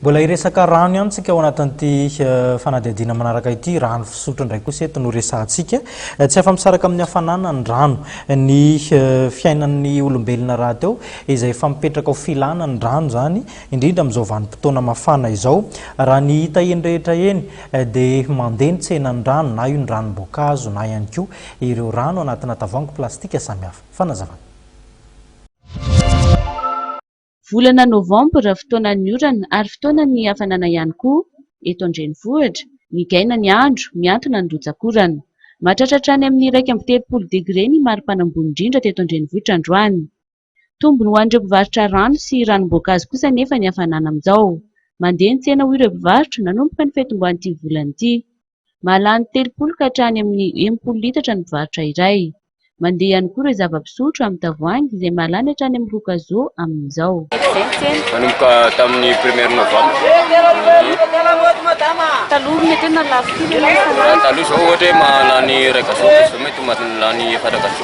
Mbola hiresaka rano ihany tsika ao anatin'ity eh, fanadihadiana manaraka ity. Rano fisotro indray kosa eto no resahantsika. Eh, tsy afa-misaraka amin'ny hafanana ny rano. Eh, ny fiainan'ny olombelona rahateo izay efa mipetraka ho filana ny rano izany, indrindra amin'izao vanim-potoana mafana izao. Raha ny hita eny rehetra eny dia mandeha ny tsenan'ny rano, na io ny ranom-boankazo na ihany koa ireo rano anatina tavoahangy plastika samihafa. Fanazavana. Volana novambra fotoanan'ny orana ary fotoanan'ny hafanana ihany koa eto an-drenivohitra. Migaina ny andro, mihantona ny rotsak'orana. Mahatratra hatrany amin'ny iraika amby telopolo degre ny maripana ambony indrindra teto an-drenivohitra androany. Tombony ho an'ireo mpivarotra rano sy ranom-boankazo kosa anefa ny hafanana amin'izao. Mandeha ny tsena hoy ireo mpivarotra nanomboka ny fetinboan'ity volana ity. Mahalany telopolo ka hatrany amin'ny enimpolo litatra ny mpivarotra iray. Mandeha ihany koa ireo zava-pisotro amin'ny tavoahangy izay mahalany hatrany amin'ny roa kazo amin'izao. Nanomboka tamin'ny premier novembre. Taloha mety hoe nalafo kely ianao isan'andro. Raha ny taloha izao ohatra hoe mahalany iray kazo, izao mety mahalany efatra kazo.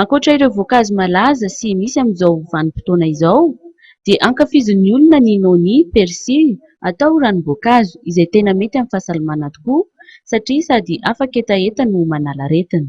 Ankoatra ireo voankazo malaza sy misy amin'izao vanim-potoana izao dia ankafizin'ny olona ny noni, persil, atao ranom-boankazo izay tena mety amin'ny fahasalamana tokoa satria sady afaka hetaheta no manala aretina.